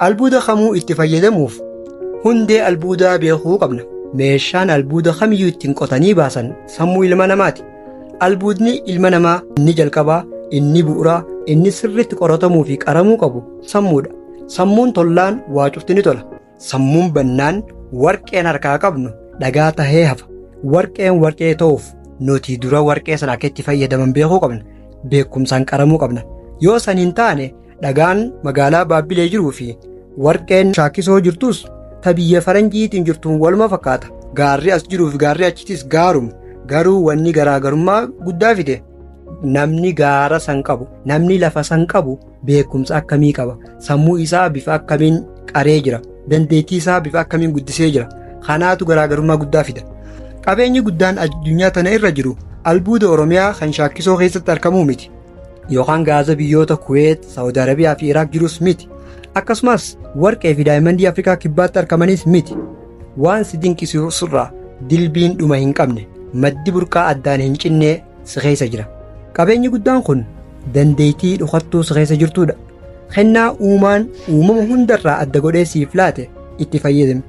Albuuda kamuu itti fayyadamuuf hundee albuudaa beekuu qabna. Meeshaan albuuda kamiyyuu ittiin qotanii baasan sammuu ilma namaati. Albuudni ilma namaa inni jalqabaa, inni bu'uraa, inni sirriitti qoratamuu fi qaramuu qabu sammuudha. Sammuun tollaan waa cufti ni tola. Sammuun bannaan warqeen harkaa qabnu dhagaa tahee hafa. Warqeen warqee ta'uuf nuti dura warqee sana akka itti fayyadaman beekuu qabna. Beekumsaan qaramuu qabna. Yoo san hin taane Dhagaan magaalaa Baabbilee jiruu fi warqeen shaakkisoo jirtus ta biyya faranjiitiin jirtuun waluma fakkaata. Gaarri as jiruu fi gaarri achitis gaaruma. Garuu wanni garaagarummaa guddaa fide namni gaara san qabu, namni lafa san qabu beekumsa akkamii qaba? Sammuu isaa bifa akkamiin qaree jira? Dandeettii isaa bifa akkamiin guddisee jira? Kanaatu garaagarummaa guddaa fida. Qabeenyi guddaan addunyaa tana irra jiru albuuda Oromiyaa kan shaakkisoo keessatti argamuu miti. yookaan gaaza biyyoota Kuweet, Saawud Arabiyaa fi Iraaq jirus miti. Akkasumas warqee fi daayimandii Afrikaa kibbaatti argamanis miti. Waan si dinqisiisurraa dilbiin dhuma hin qabne maddi burqaa addaan hin cinnee si keessa jira. Qabeenyi guddaan kun dandeettii dhokattuu si keessa jirtudha. Kennaa uumaan uumama hundarraa adda godhee siif laate itti fayyadami.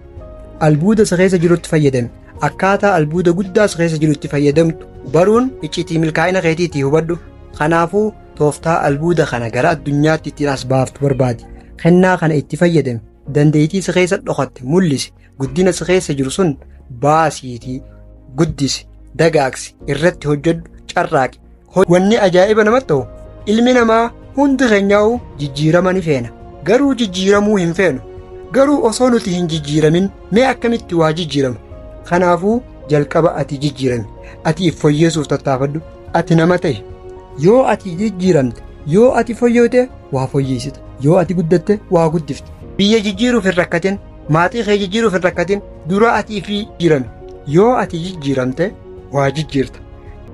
Albuuda si keessa jirutti fayyadami. Akkaataa albuuda guddaas keessa jiru itti fayyadamtu baruun iccitii milkaa'ina keetiitii hubadhu. Kanaafuu tooftaa albuuda kana gara addunyaatti ittiin as baaftu barbaadi. Kennaa kana itti fayyadami. Dandeettii si keessa dhokatte mul'isi. Guddina si keessa jiru sun baasiitii guddisi, dagaagsi, irratti hojjedhu, carraaqi. Wanni ajaa'iba namatti ta'u ilmi namaa hundi keenyaa'uu jijjiirama ni feena. Garuu jijjiiramuu hin feenu. Garuu osoo nuti hin jijjiiramin mee akkamitti waa jijjiirama? Kanaafuu jalqaba ati jijjiirami. Ati if foyyeessuuf tattaafadhu. Ati nama ta'i. Yoo ati jijjiiramte, yoo ati foyyoote waa foyyeessita. Yoo ati guddatte waa guddifta. Biyya jijjiiruuf hin rakkatin. Maatii kee jijjiiruuf hin rakkatin. Dura ati ifii jijjiirami. Yoo ati jijjiiramte waa jijjiirta.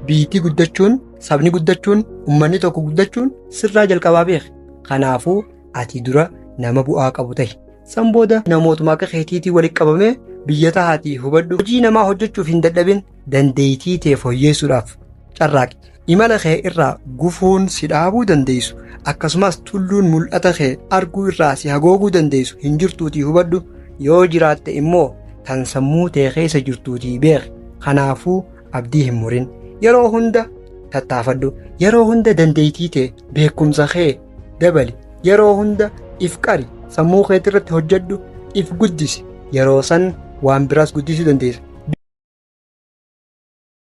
Biyyitti guddachuun, sabni guddachuun, ummanni tokko guddachuun sirraa jalqabaa beeki. Kanaafuu ati dura nama bu'aa qabu tahi. San booda namootuma akka keetiitii walitti qabamee biyya tahaatii hubadhu. Hojii namaa hojjechuuf hin dadhabin dandeeytii tee foyyeessuudhaaf carraaqi. Imala kee irraa gufuun si dhaabuu dandeessu akkasumas tulluun mul'ata kee arguu irraa si hagooguu dandeessu hin jirtuutii hubadhu yoo jiraatte immoo tan sammuu tee keessa jirtuutii beeki. Kanaafuu abdii hin murin yeroo hunda tattaafadhu yeroo hunda dandeettii tee beekumsa kee dabali yeroo hunda if qari sammuu keetti irratti hojjedhu if guddisi yeroo san waan biraas guddisuu dandeessa.